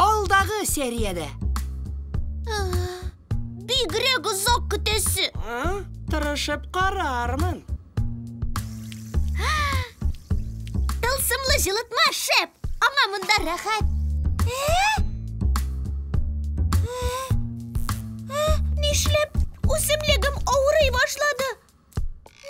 Алдагы сериядә! Бигрәк озак көтәсе! Тырышып карармын. Тылсымлы җылытма шәп! Аңа монда рәхәт! Нишләп үсемлегем авырый башлады?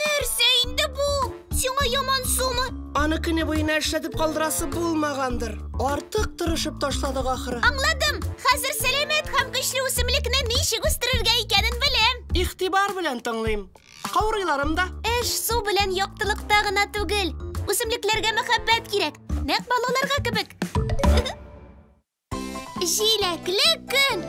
Нәрсә инде бу? Сиңа яман сумы? Аны көне буена эшләтеп калдырасы булмагандыр. Артык тырышып ташладык ахры. Аңладым. Хәзер сәламәт һәм көчле үсемлекне ничек үстерергә икәнен беләм. Игътибар белән тыңлыйм. Каурыйларым да. Эш су белән яктылыкта гына түгел. Үсемлекләргә мәхәббәт кирәк. Нәкъ балаларга кебек. Җиләкле көн.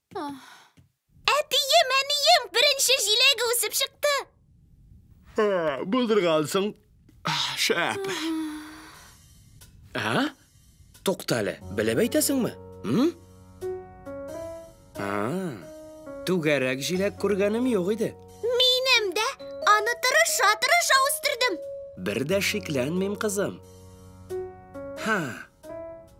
Әтием, әнием, беренче җиләге үсеп чыкты. Ә, Булдыргансың. Шәп. А? Туктале, белеп әйтәсеңме? М? А. Түгәрәк җиләк күргәнем юк иде. Минем дә аны тырыша-тырыша үстердем. Бер дә шикләнмим, кызым. Ха.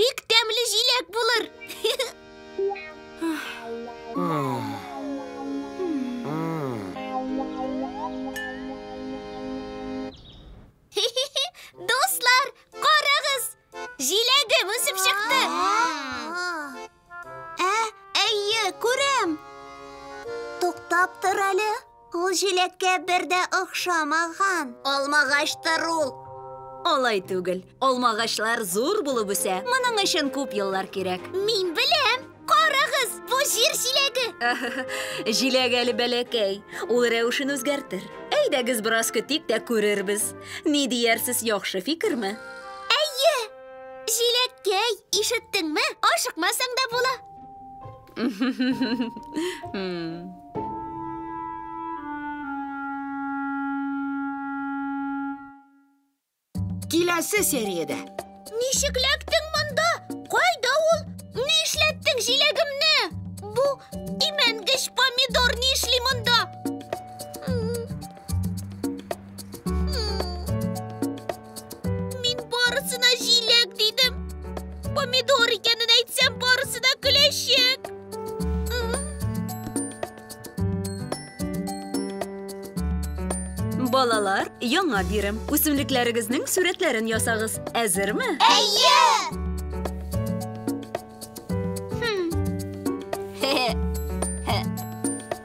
Бик тәмле җиләк булыр. Дуслар, карагыз! Җиләгем үсеп чыкты. Ә, әйе, күрәм. Туктап тор әле. Ул җиләккә бер дә охшамаган. Алмагаштыр ул. Алай түгел. Алмагачлар зур булып үсә. Моның өчен күп еллар кирәк. Мин беләм. Карагыз, бу җир җиләге. Җиләк әле бәләкәй. Ул рәвешен үзгәртер. Әйдәгез бераз көтик тә күрербез. Ни диярсез, яхшы фикерме? Җиләккәй, ишеттеңме? Ашыкмасаң да була. Киләсе сериядә. Ничек ләктең монда? Кайда ул? Ни эшләттең җиләгемне? Бу имәнгеч помидор ни эшли монда? Мин барысына җиләк дидем. Помидор икәнен әйтсәм, барысы да көләчәк. Балалар, яңа бирем. Үсемлекләрегезнең сурәтләрен ясагыз. Әзерме? Әйе! Хе-хе.